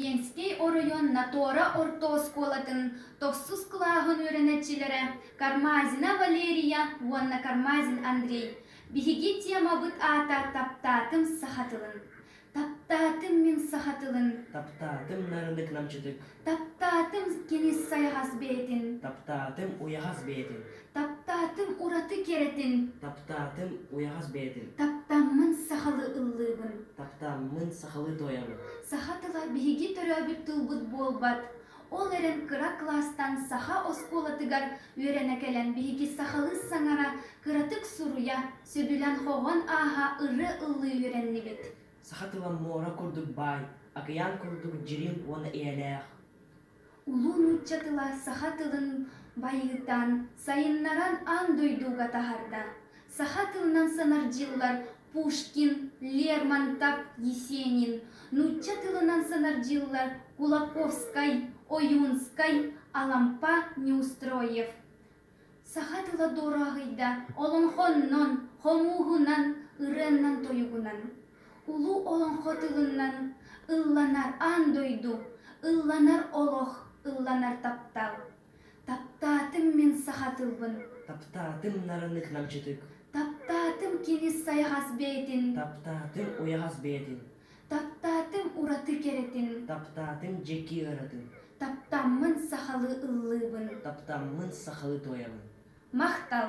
Ленскэй оройуон Натуора орто оскуолатын тохсус кылааһын үөрэнэччилэрэ Кармазина Валерия уонна Кармазин Андрей биһиги темабыт аата Таптаатым саха тылын. Таптаатым мин саха тылын. Таптаатым нарыннык намчытык. Таптаатым кинис сайаҕас бэйэтин. Таптаатым уйахас бэйэтин. Таптаатым ураты кэрэтин. Таптаатым уйаҕас бэйэтин. Таптаммын сахалыы ыллыыбын. Таптаммын сахалыы туойабын. Саха тыла биһиги төрөөбүт тылбыт буолбат. Ол эрэн кыра кылаастан саха оскуолатыгар үөрэнэ кэлэн биһиги сахалыы саҥара кыратык суруйа, сөбүлээн-хоһоон ааһа ырыа ыллыы үөрэннибит. Саха тыла муора курдук баай, акыйаан курдук дьириҥ уонна ийэлээх. Улуу нуучча тыла саха тылын байытан, сайыннаран аан дойдуга таһарда. Саха тылынан санар дьыллар Пушкин, Лермонтов, Есенин, нуучча тылынан санар дьыллар Кулаковскай, Оюнскай, Алампа, Неустроев. Саха тыла дуораһыйда олоҥхоннон, хомууһунан, ырыаннан-тойугунан, улуу олоҥхо тылынан ылланар аан дойду, ылланар олох, ылланар таптал. Таптаатым мин саха тылбын. Таптаатым нарыннык намчытык. Таптаатым кини сайаҕас бэйэтин. Таптаатым уйаҕас бэйэтин. Таптаатым ураты кэрэтин. Таптаатым дьэки ыратын. Таптаммын сахалыы ыллыыбын. Таптаммын сахалыы туойабын. Махтал!